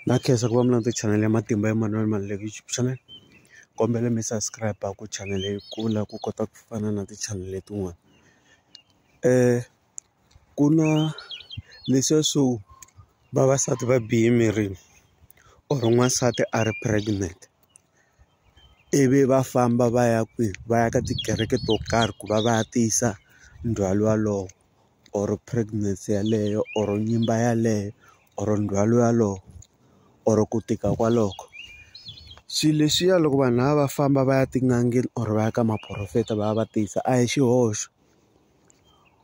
Na khensa ku va mi landza chanel ya matimba ya Manuel Maluleke YouTube channel kombela mi subscribe ku chanel yi kula ku kota ku fana na ti chanel letin'wana ku na leswiya swo vavasati va bihe emirini or n'wansati a ri pregnant ivi va famba va ya kwihi va ya ka tikereke to karhi ku va va ya tiyisa ndzhwalo walowo. or pregnancy yeleyo or nyimba yaleyo or ndzhwalo walowo or ku tika kwaloko swilo leswiya loko vanhu lava va famba va ya tin'angeni or va ya ka maporofeta va ya va tiyisa a hi xihoxo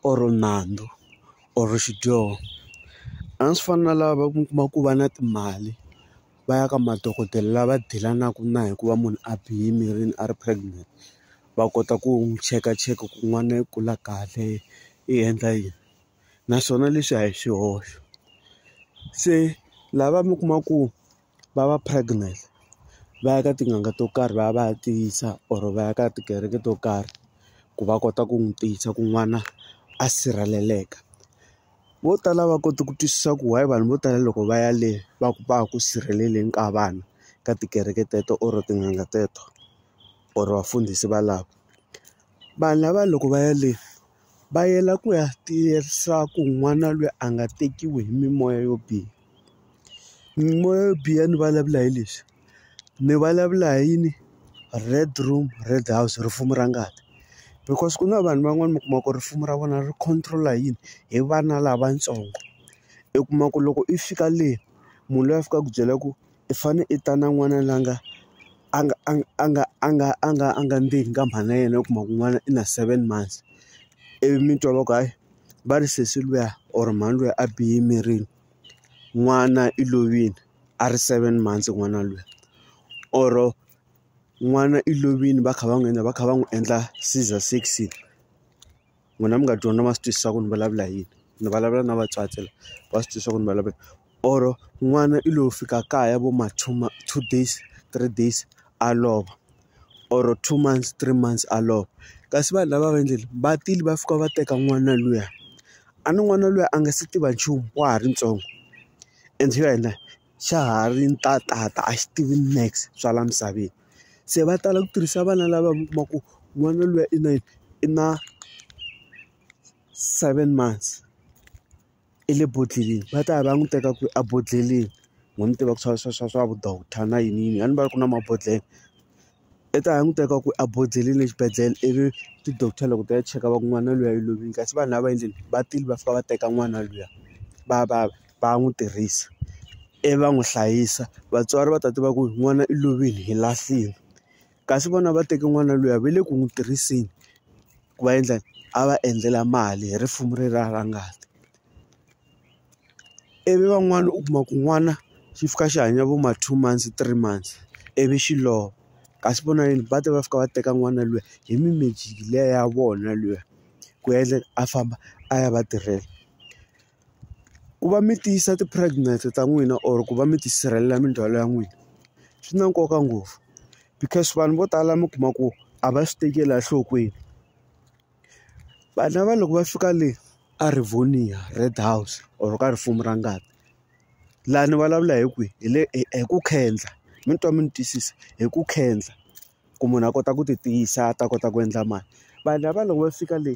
or nandzu or xidyoho a swi fani na lava va kuma ku va na timali va ya ka madokodela lava dilanaku na hikuva munhu a bihe emirini a ri pregnant. va kota ku n'wi chekacheka ku n'wana i kula kahle i endla yini naswona leswi a hi swihoxo se lava mi kuma ku va va pregnant va ya ka tin'anga to karhi va ya va ya tiyisa or va ya ka tikereke to karhi ku va kota ku n'wi tiyisa ku n'wana a sirheleleka vo tala va kota ku twisisa ku why vanhu vo tala loko va ya le va ku va ku sirheleleni ka vana ka tikereke teto or tin'anga teto. or vafundhisi valavo vanhu lava loko va ya le va yela ku ya tiyerisa ku n'wana loyi a nga tekiwi hi mimoya yo biha mimoya yo biha ni vulavula hi leswi ni vulavula hi yini red room red house rifumi ra ngati because ku na vanhu van'wani mi kuma ku risimu ra vona ri control-a hi yini hi vana lavatsongo i kuma ku loko i fika le munhu loyi a fikaka ku byela ku. i fane i ta na n'wana la nga a nga a a nga a nga a nga a nga ndzeni ka mhana yena u kuma ku n'wana i na seven months ivi mi twa va ku hayi va ri sesi luya or mhani luya a bihe emirini n'wana i lovile a ri seven months n'wana luya or n'wana i lovile va kha va n'wi endla va kha va n'wi endla scissor section. n'wina mi nga dyondza ma swi twisisa ku ni vulavula yini ni vulavula na vatswatsi la va swi twisisa ku ni vulavula or n'wana i lo fika kaya vo ma two ma two days three days a lova or two months three months a lova kasi vanhu lava va endlile va tile va fika va teka n'wana luya a ni n'wana luya a nga se tiva nchumu wa ha ri ntsongo and yena. xa ha ri ntatata a xi tivi max swa laha misaveni se va tala ku tirhisa vana lava mi kuma ku n'wana luya i na i na seven months i le bodleleni va ta ya va ya n'wi teka kwihi ebodhleleni no n'wi tiva ku swa swa swa swa vu doctor na yini yini a ni vona ku ri na mabodhlele. I ta languteka ku a bodzelile exibedhlele ivi ti-doctor loko ti ya cheka va ku n'wana luya i lovile kasi vanhu lava endleni va tile va fika va teka n'wana luya va va va n'wi tirhisa ivi va n'wi hlayisa vatswari va ta tiva ku n'wana i lovile hi lahlile kasi vona va teke n'wana luya va le ku n'wi tirhiseni ku va endla a va endlela mali hi risimu ra ngati. ivi van'wana u kuma ku n'wana xi fika xi hanya vo ma two months three months ivi xi lova kasi vona yini va ta va fika va teka n'wana luya hi mi magic liya ya vona luya ku endla a famba a ya va tirhela ku va mi tiyisa ti pregnant ta n'wina or ku va mi tisirhelela mindzhwalo ya n'wina swi na nkoka ngopfu because vanhu vo tala mi kuma ku a va swi tekeli enhlokweni. Vanhu lava loko va fika le a Rivonia Red house or ka risimu ra ngati laha ni vulavula hi kwihi hi le hi ku khendla mi twa mi ni twisisa hi ku khendla ku munhu a kota ku ti tiyisa a ta kota ku endla mali vanhu lava loko va fika le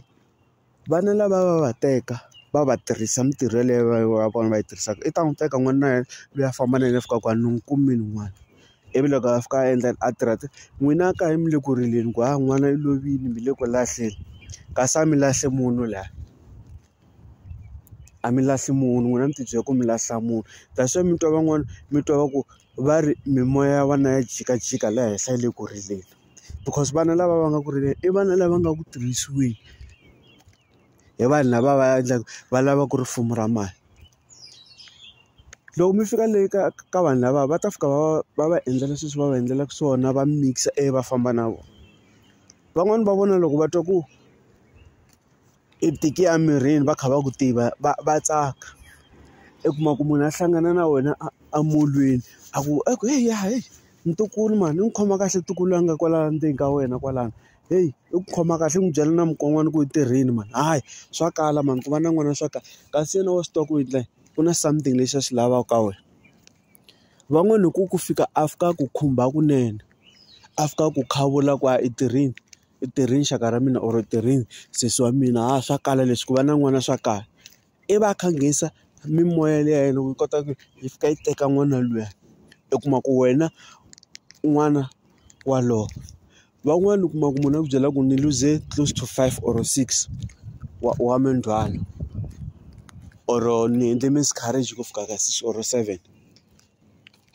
vana lava va va teka va va tirhisa mintirho yeleyo va yi va yi tirhisaka i ta n'wi teka n'wana wa yena loyi a famba na yena a fika kwala ni n'wi kumile n'wana. ivi loko a fika a endla a tirha a n'wina a ka yi mi le ku rileni ku ha n'wana i lovile mi le ku lahleni kasi a mi lahli munhu la a mi lahli munhu n'wina mi tibyele ku mi lahla munhu that's why mi twa van'wana mi twa va ku va ri mimoya ya vana ya jikajika laha henhla yi le ku rileni because vana lava va nga ku rileni i vana lava nga ku tirhisiweni. hi vanhu lava va endlaka va lava ku ri fumo ra mali loko mi fika le ka ka vanhu lava va ta fika va va va va endlela sweswi va va endlelaka swona va mikisa ivi va famba na vona van'wani va vona loko va twa ku i tike a mirini va kha va ku tiva va va tsaka i kuma ku munhu a hlangana na wena a a molweni a ku a ku heyi ya heyi ntukulu mhani ni khoma kahle ntukulu a nga kwala ndzeni ka wena kwalano. heyi i ku khoma kahle i n'wi byela na mukon'wana ku i tirhile mani hayi swa kala mani ku va na n'wana swa kala kasi yena wa swi tiva ku ri endla ku na something lexi a xi lavaka ka wena van'wani hi ku ku fika a fika a ku khumba kunene a fika a ku khuvula ku a i tirhile i tirhile xaka ra mina or i tirhile sesi wa mina ha swa kala leswi ku va na n'wana swa kala. i va a kha a nghenisa mimoya liya ya yena loko yi kota ku yi fika yi teka n'wana luya u kuma ku wena n'wana wa lowo van'wani u kuma ku munhu a ku byela ku ni luze close to five or six wa wa mindzhwalo or ni endle miscarriage ku fika ka six or seven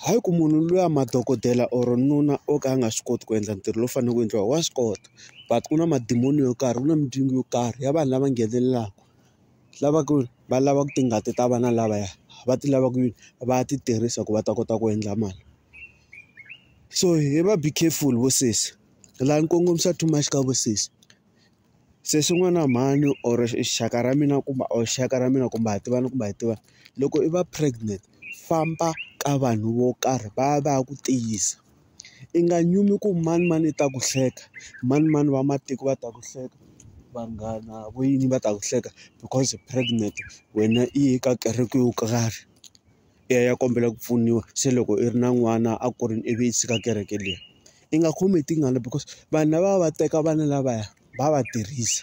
hi ku munhu luya madokodela or nuna o ka a nga swi koti ku endla ntirho lowu faneleke ku endliwa wa swi kota but ku na madimoni yo karhi ku na mindyangu yo karhi ya vanhu lava nghenelelaka. lava ku va lava ku tingati ta vana lavaya va ti lava ku va ya ti tirhisa ku va ta kota ku endla mali so hi va be careful vo sesi la ni kongomisa too much ka vusesi se swin'wana mhani or xaka ra mina kumbe or xaka ra mina kumbe ha tivana kumbe a hi tivani loko i va pregnant famba ka vanhu vo karhi va ya va ya ku tiyisa. I nga nyumi ku manemane yi ta ku hleka, manemane va matiko va ta ku hleka, vanghana vo yini va ta ku hleka because u pregnant wena i ye ka kereke yo karhi i ya i ya kombela ku pfuniwa. Se loko i ri na n'wana a kurile ivi i tshika kereke liya, i nga khomi hi tingana because vanhu lavaya va teka vana lavaya va va tirhisa.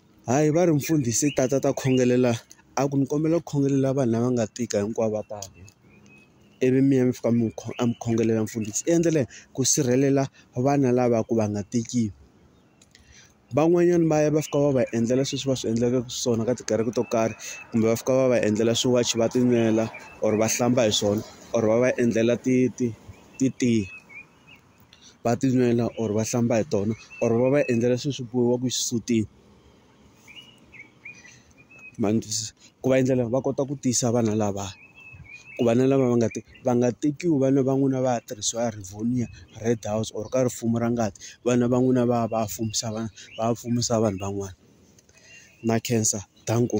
Hayi va ri mfundhisi ta ta ta khongelela a ku ni kombela ku khongelela vanhu lava nga tika hinkwavo va ta ivi mi ya mi fika mi a mi khongelela mfundhisi i endlele ku sirhelela vana lava ku va nga tiki van'wanyana va ya va fika va va endlela sweswi va swi endlaka swona ka tikereke to karhi kumbe va fika va va endlela swiwachi va tinwela or va hlamba hi swona or va va endlela ti ti ti tiya. va ti nwela or va hlamba hi tona or va va endlela swilo swi bohiwaka exisutini ma ni twisisa ku va endlela va kota ku tiyisa vana lava ku va na lava va nga ti va nga tekiwi vana va n'wina va ya tirhisiwa Rivonia Red house or ka rifumo ra ngati vana va n'wina va ya va ya fumisa vana va ya fumisa vanhu van'wana na khensa danko.